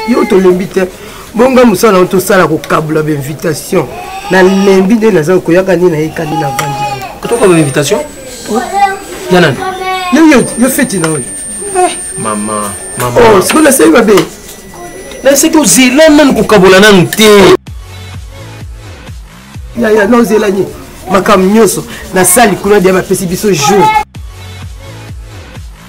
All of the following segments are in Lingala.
yo tolembi te bonga mosala yango tosala kokabula bainvitation nalembi nde naza koyaka nde nayekani na vandi tokaba bainvitation ya nani yoyo yo feti na oyo eh, mama mama oh, siko nasali mabe naseki ozela nanu kokabola nanu te yaya na ozelani makambo nyonso nasali kuna dia bapesi biso jour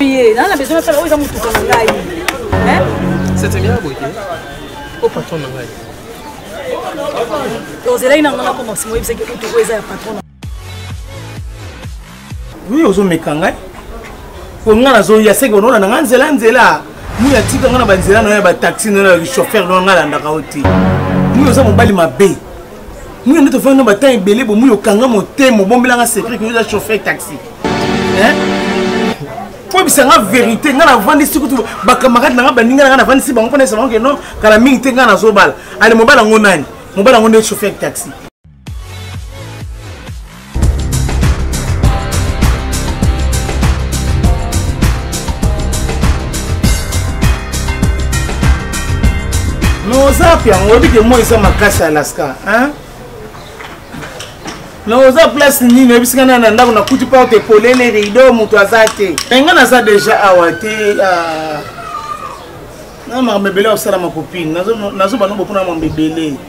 ye naa na besoin nasala oyo eza motuka na ngai setemia boye te o patron na ngai ozelaki nango na komaxi moyebisaki kutu oyo eza ya patron oui ozomeka ngai po ngai nazoya seke banona na ngai nzela nzela mui atika ngai na banzela na yo ya bataxi na yo ya chauffeur na ngai alandaka yo te mui oza mobali mabe muna nde tofandi na batemp ebele bomuyi okanga motema obombelanga secret koyoza chauffeur taxi koyebisa nga verité ngai navandisi kutu bacamarade na ngai baninga na ngai navandisi bango mpona esabango ke non kala mingi te ngai nazobala ale mobala yango nani mobala yango nde chauffeur taxi ozap yango oyebi ke moi eza makasi ya alaska na oza place nini oyebisika na na ndako nakuti porte polele rido moto aza te enga naza deja awa te ah. na makambo ebele ya kosala makopine nazoba no bopona makambo ebele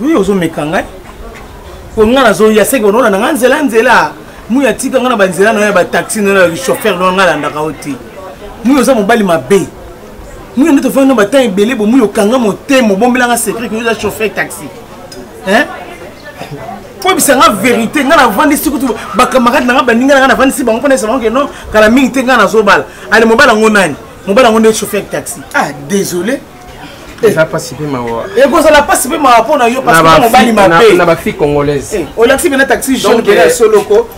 Oui, ozo meka ngai. Ko nga na zo ya seki bonona na nga nzela nzela. Mu ya tika nga na ba nzela na ya ba taxi na ya chauffeur na nga landa ka oti. Mu oza mobali mabe. Mu ndoto fa na ba temps ebele bo mu yo kanga motema bombela nga secret ko oza chauffeur taxi. Hein? koyebisa nga verité nga navandisi kutu bakamarade na nga baninga na nga navandisi bango mpona esabango ke non kala mingi te nga nazobala ale mobala yango nani mobala yango nde chauffeur taxi ah désolé eza mpasi mpe mawa ekozala mpasi mpe mawa mpo na yo parce mobali mabe na bafille congolaise eh, olakisi mpena taxi jaune mpena ya solo ko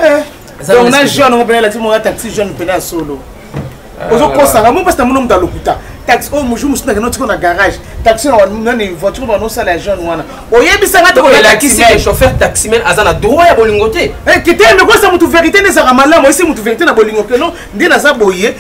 eh, donc na jeune yango mpena elakisi moya taxi jaune mpena ya solo ah, ozokosanga mo mpasi na mono moto alokuta taxi oyo oh, mojour mosusu nakende otiko na garage taxi nani voiture bana osala ya jeune wana oyebisanga te elakisi chauffeur taximen aza na droit ya bolingo te eh, kite mekosa motu verité nde ezalaka malamu oyesi motu verité na bolingo keno nde naza boye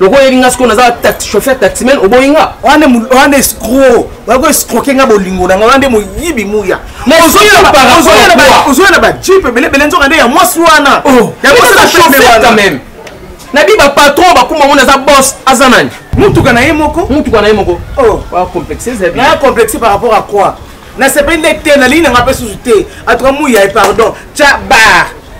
lokola oyebi nga sikoyo naza chauffeur taximen oboyi nga wana wana escro oyako escroke nga bolingo na nga wana nde moyibi muya ozoya na bajipe ebelebele nzoka nde ya mwasi wana oh. yangoaameme nabi bapatron bakuma ngo naza bos aza nani motuka na ye moko motuka na ye moko oh. complexe par rapport à quoi nasepeli nde te nalii nanga mpe susu te atuka muya pardon tya bar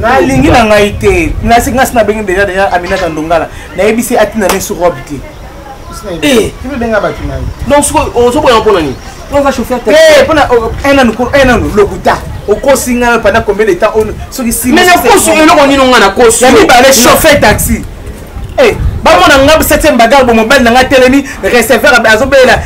nalingi na ngai te nasi ngasi nabengi deja deja aminata ndongala nayebisi atina ne sur robe te eh. donc soki ozoboya mpona nini mpona enanu lokuta okosi ngai pendant combien de temps soki mais nakosi eloko nini ngai nakosi ya mibale chauffer taxi Hey, eh, bamona nga 7e bagarre bo mobali na nga telemi receveur azobelela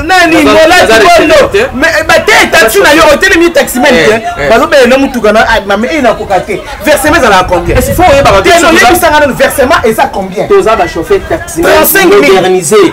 nani molati bondo eh, bateye taxi na yo otelemi taximen te eh, eh. bazobelela na motuka na ah, mame eyi nakoka te versement ezalaka combienyebisanga nano versement eza combien toza bachauffer taxi 35 000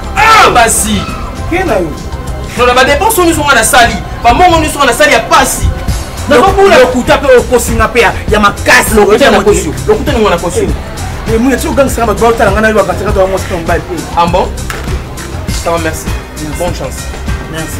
ah basi kena yo nona badepense oyo nyonso ngai nasali bamongo nyonso ngai nasali ya pasi nakobula lokuta mpe okosinga mpe ya makasi lokuta ningo na kosi emuna ti ogangisaka bato baotala ngai na yo bakatakata bango sika mobali te ambo ah, ça va merci bonne chance merci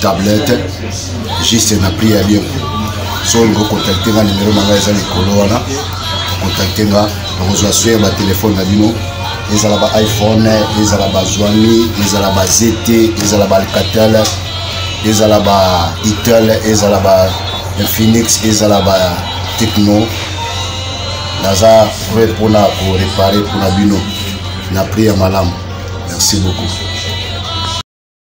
tablette juste na prix ya bien so olingi okontakte nga nimero na ngai eza likolo wana okontakte nga nakozwa swe ya batelefone na bino ezala ba iphone ezala ba zwami ezala ba zt ezala ba alcatel ezala ba itel ezala ba infinix ezala ba techno naza pre mpona korepare mpona bino na prix ya malamu merci beaucoup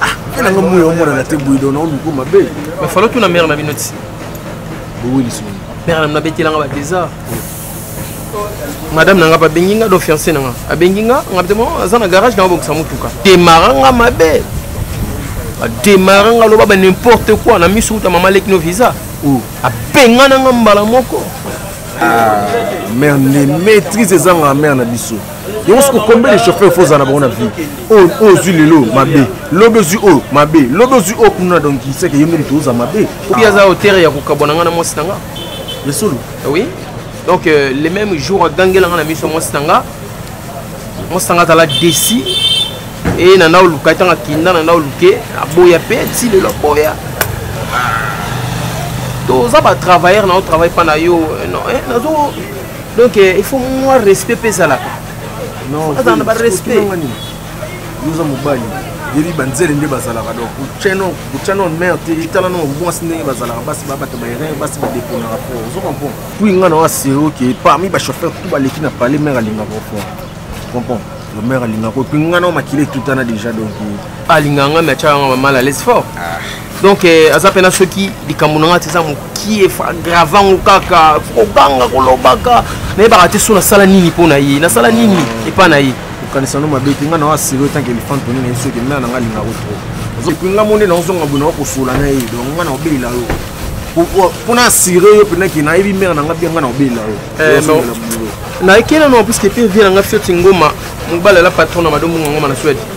ah pe nanga moyo omona na te buido na omiko mabe mais falo tuna mère na bino ti bowe lisoni mère na bino abetelanga ba désar madame nanga babengi nga do fiancé nanga abengi nga nga te aza na garage na obongisa motuka demara nga mabe bademara nga loba ba n'importe quoi na miso uta mama leki no visa oh. abengana nga mbala moko ah, mère ne maîtrise ezanga mère na biso yango soki okombe le chauffeur fo ozala na bango na vie oyo oh, ozwi oh, lelo mabe lobi ozwi oyo oh, mabe lobi ozwi oyo kuna donc seke ye nde moto oza mabe obi aza autere ya kokabwana ngai na mwasi na nga ya solo ah oui donc euh, le même jour agangela ngai na miso ya mwasi na nga mwasi na nga azala desi e na ndao luka ntango akinda na ndao luke aboya mpe ti lelo aboya toza batravailleur na yo travaille mpa na yo eh, eh, nazo donc eh, il faut mwa respect mpe ezalaka azala na barespect yoza mobali yebi banzele nde bazalaka donc kotya no mare te etala no mwasi ndenge bazalaka basi babata baerreur basi badeponaka po ozo comprendre puis ngai nawa sero ke parmi bachauffeur tout baleki na palais mare alingaka okona comprendre le mare alingaka puis ngai nao makila etutana déjà donc alinga ngai me atyaka ngai mamala lese fort ah. donc eh, aza mpena soki likambo na ngai te eza mokie grava yango kaka koganga kolobaka nayebaka te so nasala nini mpo na ye nasala nini epai na ye kokanisa no mabe te ngai na wasilo etanke elefante toni na ye soki mea na ngai alingako trop epui ngai mone naozonga boye nakokosola na ye donc ngai naobelela yo mpo na asire yo mpena ke nayebi mare na ngai bia ngai naobelela yo eh, nayekela no puiske te vie na ngai fioti ngoma mobali ala patron na madombongo ngoma na swede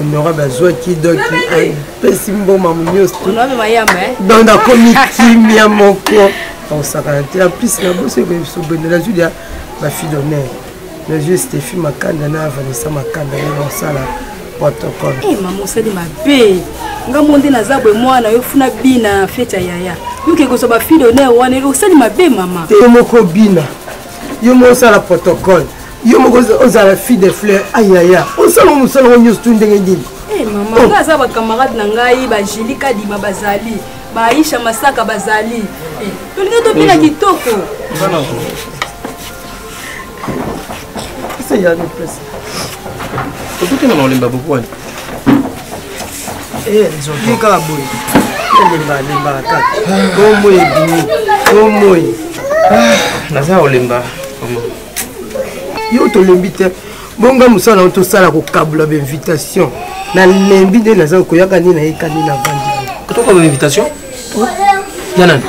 honorable azwaki donc apesi mboma monyoso donc nakomi kimia moko akosakana te en plus na boso ekoyebisobende nazwi lya bafille d'honneur nazwi stephi makanda na vanessa makanda ye mosala protocole eh, mama osali mabe nga mo nde naza boye mwana yo funa bina fete ya yaya yoke kozwa bafille d'honneur wana osali mabe mama te moko bina yo mosala protocole yo moko ozala fille de fleur ayaya osalaka mosala ngo nyonso tu ndenge nini eh, mama oh. nga aza bacamarade na ngai bajili kadima bazali baaisha masaka bazali eh, tolingi tobina kitoko otoki na maolemba bokwani eh, nzoki kaka boye elemba lembaka kaka bomoi ebimi bomoi ah, naza kolemba yo tolembi te bonga mosala nao tosala kokabula bainvitation nalembi nde naza koyaka nde nayeka nde navandi tokoka bainvitation ya nani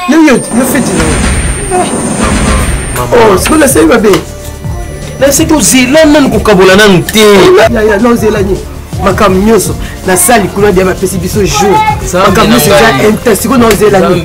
yoyo yo feti nao sikoyo nasali mabe naseki ozela nani kokabola nanu te nozelani makambo nyonso nasali kuna dia bapesi biso jour makambo nyonso eza intensiko nozelani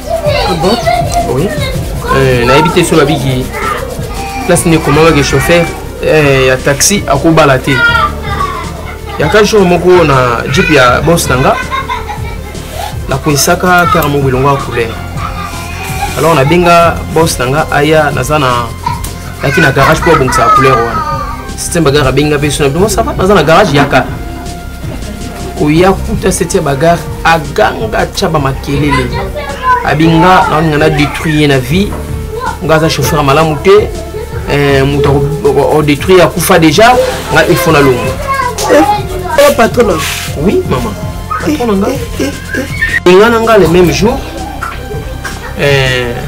Oui. Euh, nayebi te so babiki place nde ekomama ke chauffeur euh, ya taxi akobala te yaka jour moko na jip ya bos na nga nakwesaka kar moko elongo ya couleur alors nabenga bos na nga aya naza na yaki na garage mpo abongisaka couleur wana système bagare abenga mpe so na bino sava naza na garage yaka koya kuta seti ya bagare aganga atya bamakelele abinga naoninga na détruit ye na vie nga aza chauffeur ya malamu te eh, moto odétruire akufa déjà nga il faut nalongo eh, eh, patron oui maman patron na nga inga na nga le même jour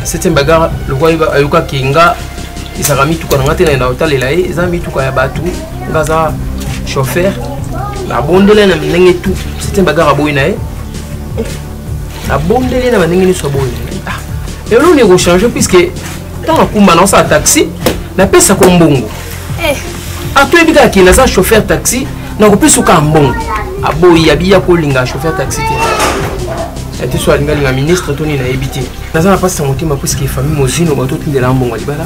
septième bagare lokola ayokaki nga ezalaka mituka na nga te na otalela ye eza mituka ya bato nga aza chauffeur nabondeli ye na ndenge tu sitien bagare aboyi na ye nabondeli ye na bandenge nyonso aboyi na ye ah, eloni ekochange puiske ntango akumba naosala taxi napesa ko mbongo eh. atoyebi ah, kaka kende aza chauffeur taxi nakopesa okaa mbongo aboyi ah, abiya kolinga chauffeur taxi te ete so alingalinga ministre to nini nayebi te naza na mpasi ya motema puiske famille mozino bato otindela mbongo ya libala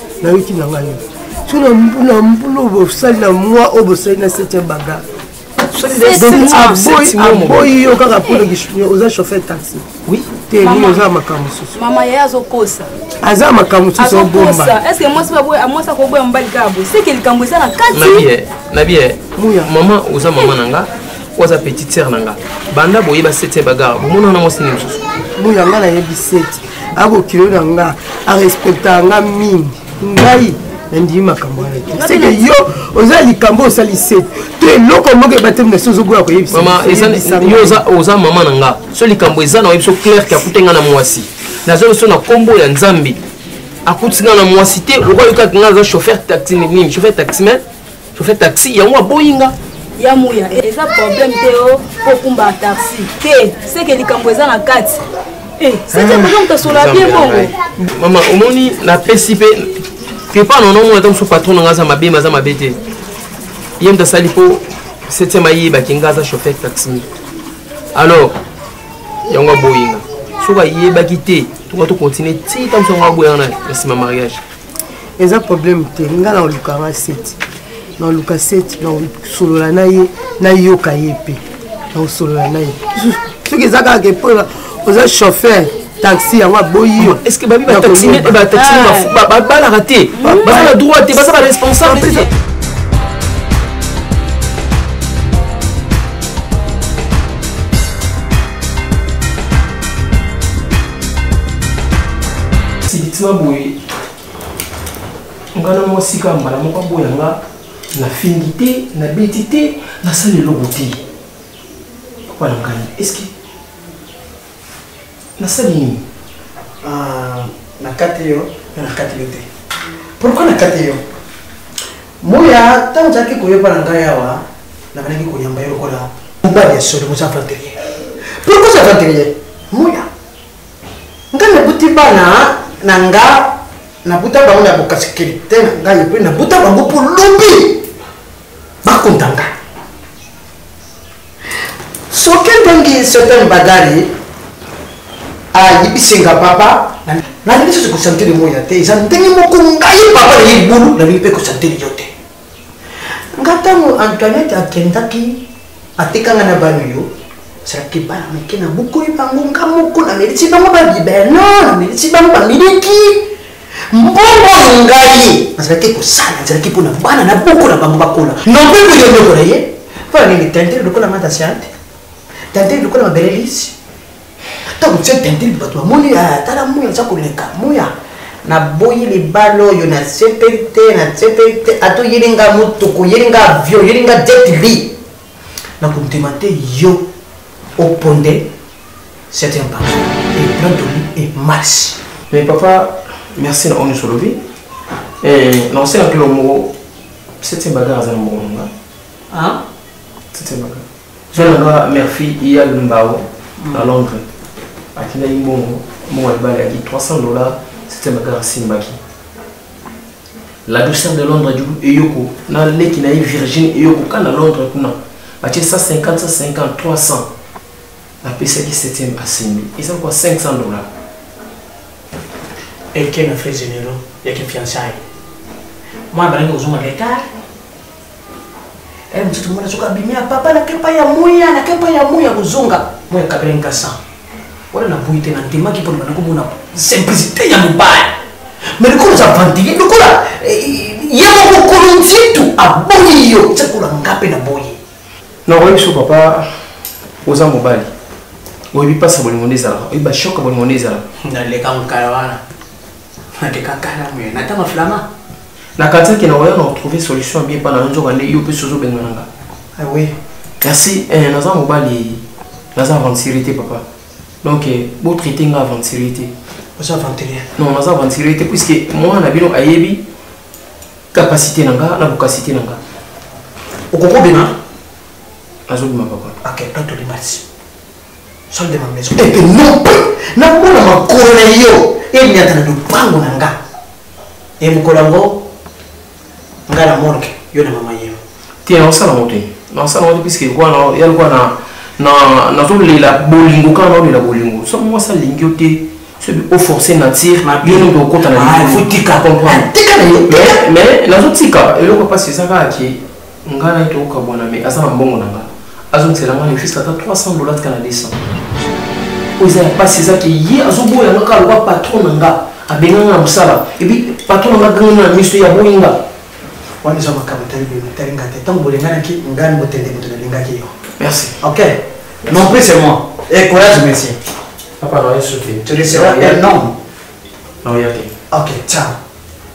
nayoki na ngai so na mbula bosali na mwa oyo bosali na septième baga aboyi yo kaka mpo oza chauffeur taxi te nini oza makambo mosusu mama ye azokosa aza makambo mosusu obomba estce mwasi mwasi akoboya mobali kaka boye seke likambo eza na kati na bie mama oza mama na nga oyo aza petite sere na nga banda boyeba sete bagara bomonana mwasi nini mosusu boya nga nayebi sete akokilo na nga arespectaka nga mingi ngai nandimi makambo wana te seke yo oza likambo osali sete to eloko moko ebateli na so ozoboya koyebisayo oza mama na nga so likambo eza na oyebi so claire ke akute nga na mwasi nazongi so na nkombo ya nzambe akuti nga na mwasi te okoyokaki nga aza chauffeur taxi nini chauffeur taximen chauffeur taxi yango aboyi nga ya muya eza problème te o oh, kokumba taxi te seke likambo eza na kati eh, seke mpenza moto asola bien bongo mama omoni napesi mpe kepa nono omona ata mosusu patron nanga aza mabe maza mabe te ye moto asali mpo septième ayebaki nga aza chauffeur taxi alors yango aboyinga soki ayebaki te toka tokontinue ti ntango songo aboyanga na nsima mariage eza problème te nga na oluka nga seti na oluka seti na osolola na ye nayoka ye mpe na osolola na ye soki eza kaka ke mpo oza chauffeur taxi yango aboyi yo est ce que babi bataximene babalaka te baza na droit te baza baresponsable te sibitima boye nga na mwasi kaka mbala moko aboya nga nafingi te nabeti te nasala eloko te papa na ngai eske nasali nini ah, nakati yo nakati yo te pourkui nakati yo Moya, ntango ozalaki koyoka na ngai awa, nabandaki koyamba yo lokola mobali ya solo, moza aventurier. Pourquoi oza aventurier? Moya, ngai nabuti bana na nga, nabuta bango na bokasikilite na ngai, epe nabuta bango po lobi bakonda ngai. soki ndenge certain bagari ayibisi nga papa nalingi lisusu kosantele moya te eza ndenge moko ngai papa na ye libulu nalingi mpe kosantele yo te nga ntango antoinette akendaki atekanga na bano yo ezalaki bana moke na bokoli bango nga moko namelisi bango babibeno namelisi bango bamiliki mbongo oyo ngai nazalaki kosala ezalaki mpo na bana na boko na bango bakola nope koye eloko na ye mpo na nini tentele lokola matasiante tentele lokola mabelelisi ntango tse tentele bato bamoni tala moya aza koleka moya naboyi libala oyo nasepeli te nasepeli te ata oyeli nga motuku oyeli nga avion oyeli nga jetli na kondima te yo oponde certain banso eplantoli emarsi mais papa merci na oyo nyonso olobi eh, na osenga kilo moko certain bagara aza na moko nanga certain bagara zwa nanga merfi ya lumbao mm. na londres atindaki mbongo mbongo ya libala yaki 300 dollars certain bagara asimbaki la douceur de londres du eyoko na leki na ye virgine eyoko ka na londres kuna batie 150 150 300 napesaki 7e asimbi eza kwa 500 dollars eke na frais généraux yaki fiançaille mwana balaki kozonga retard eh, mosusu mwana soki abimi ya papa nake epai ya moya nake epai ya moya kozonga moya kabela nkasa wana naboyi te nandimaki mpo nabanda komona simplicité ya mobali me lokola oza vantile lokola eh, ye moko kolo nzitu aboyi yo eza kola nga mpe naboyi na oyebi so papa oza mobali oyebi mpasi ya bolingo nde ezalaka oyebi bashoka bolingo nde ezalaka naleka mokala wana nateka kala moye natanga flama nakanisaki na oya na retrouve solution ya bien mpa na yo nzoka nde yo mpe sozo obengana nga awe ah kasi eh, naza mobali naza aventurier te papa donc eh, botraite nga aventurier te oza aventurier non naza aventurier te puiske mwana na bino ayebi capacité na nga na bokasité na nga okokobima azobima papa ok atolibasi sol de ma maison et que non mpe namona makolo na yo enyata na lopango na nga e mokolo yango nga na morgue yo na mama yeo te naosala ngo te naosala ngo te puiske ekwana ya lokwa na na nazolela bolingo kaka naolela bolingo soki mwasi alingi yo te soki oforce nature yo nde okota na ah, mais nazotika eloko mpasi eza kaka ke nga na ye tokokabwana me aza na mbongo na nga azongisela nga nefisi ata 300 dollars tika na 200 oyo eza ya mpasi eza ke ye azoboya nga kaka loba patron na nga abenga nga na mosala ebi patron na nga ganga nga na miso ye aboyi nga wana eza makambo etali bino etali nga te ntango bolenganaki ngai ni motende moto nalingaki yo merci ok non plus c'est moi et eh, courage monsieur papa na yesu te tu receras un homme na oya te ok ciao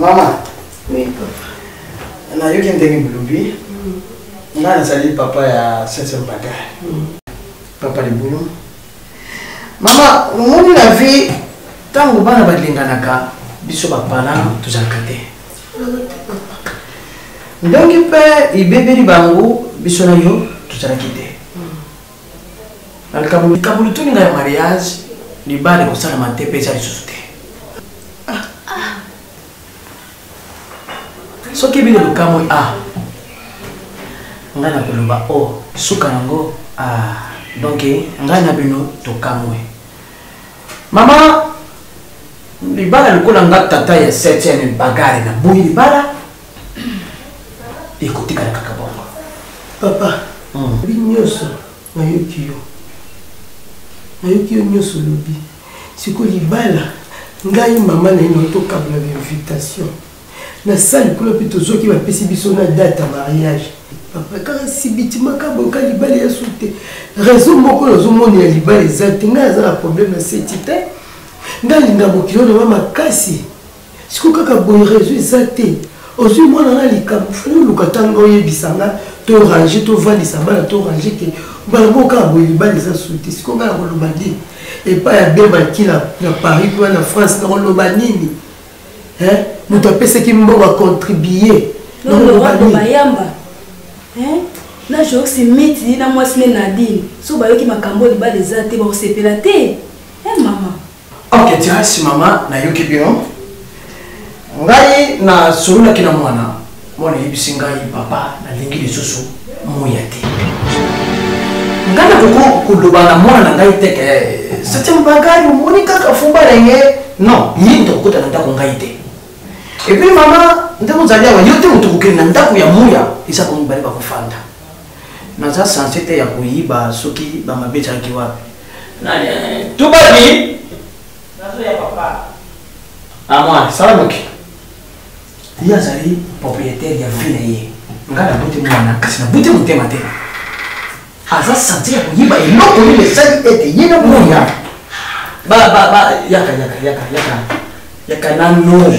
mama nayoki ndenge bolobi mm. ngai nazali papa ya sese mbata mm. papa libulu mama omoni na vie ntango bana balinganaka biso bapana tozalaka te ndongi mpe ebebeli bango biso na yo tozalaki te na likambo likambo lituni ngai ya mariage libala ekosalama te mpe eza lisusu te ah. soki bino lokamwe a ah. ngai na koloba o oh, suka yango a ah. donk ngai na bino tokamwe mama libala lokola nga tata ya 7 bagare na boyi libala ekotikala kaka bongo papa hmm. bi nyonso nayoki yo nayoki yo nyonso olobi sikoyo libala ngai mama na ye na tokabla bainvitation na sali kuna mpe tozoki bapesi biso na date ya mariage papa kaka sibitima kaboka libala ya su te raison moko nazomona ya libala eza te ngai aza na problème ya seti te ngai alinga mokili oyo na ba makasi siko kaka boye rezo eza te ozwi mwana na likambo fani oluka ntango oyebisa nga to range tovandisa bana to range te mbala moko kaka boye libala eza su te siko ngai nakoloba nini epai ya bemaki na paris kuna na france nakoloba nini moto apesaki mbongo acontribue nakoloba nini na joxi miti na mwasi ne nadine so bayoki makambo libala eza te bakosepela te e mama Ok, Tirasi mama, nayoki bino. Ngai na sololaki na mwana, mwana yebisi ngai papa nalingi lisusu moya te. Ngai nakoki koloba na mwana na ngai te ke sete mbagari omoni kaka fumba na ye non ye moto akokota na ndako ngai te epuis mama nde mozali awa yo te moto kokende na ndako ya moya eza komibale bakofanda naza sense te ya koyiba soki bamabe ezalaki wapi tubadi amwa sala moke ye azali propriétaire ya vie na ye ngai nabuti mwana kasi nabuti motema te aza sense ya koyiba eloko nini esali ete ye na moya yaka yaka yaka yaka yaka nano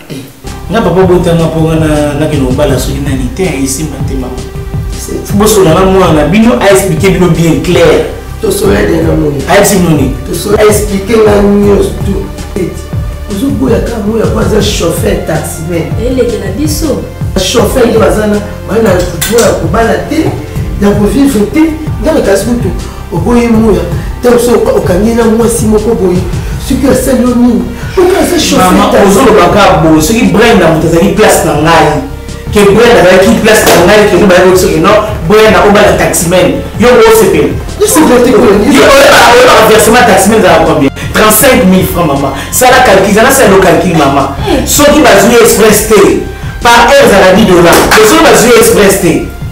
nga papa botanga mpo nga nakende kobala soki nani te esimba te mama bosola na mwana na bino aexplike bino bien clair ayebisi bino nini aexplike nga nyonso ozoboya ka moya po aza chauffeur taximen elekela biso chauffeur nde bazana bana moya kobala te ya kovivre te ndenge kasi kutu oboyi muya ntango so okangi na mwasi moko boye soki asali yo nini ozoloba kaka boye soki brenda moto azali place na ngai ke brenda azalaki place na ngai keno bayaki oyo soki no brenda obala taximen yo osepela oyebaka versement taximen ezalaka combien 35 000 francs mama sala calcul zana salo calcul mama soki bazwi express te par heure ezalaka 10 dollar soki bazwi express te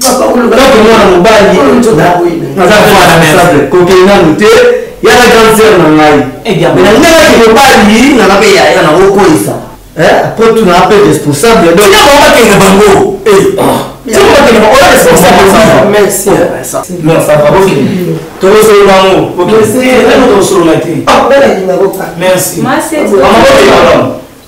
Tango mwana mobali naza responsable kokende nanu te yaka grande sœur na ngai eh, nalingaki mobali nanga mpe yaya nakokolisa apres eh, tuna mpe responsable bakende bango tokosolo bango tokosolola te merci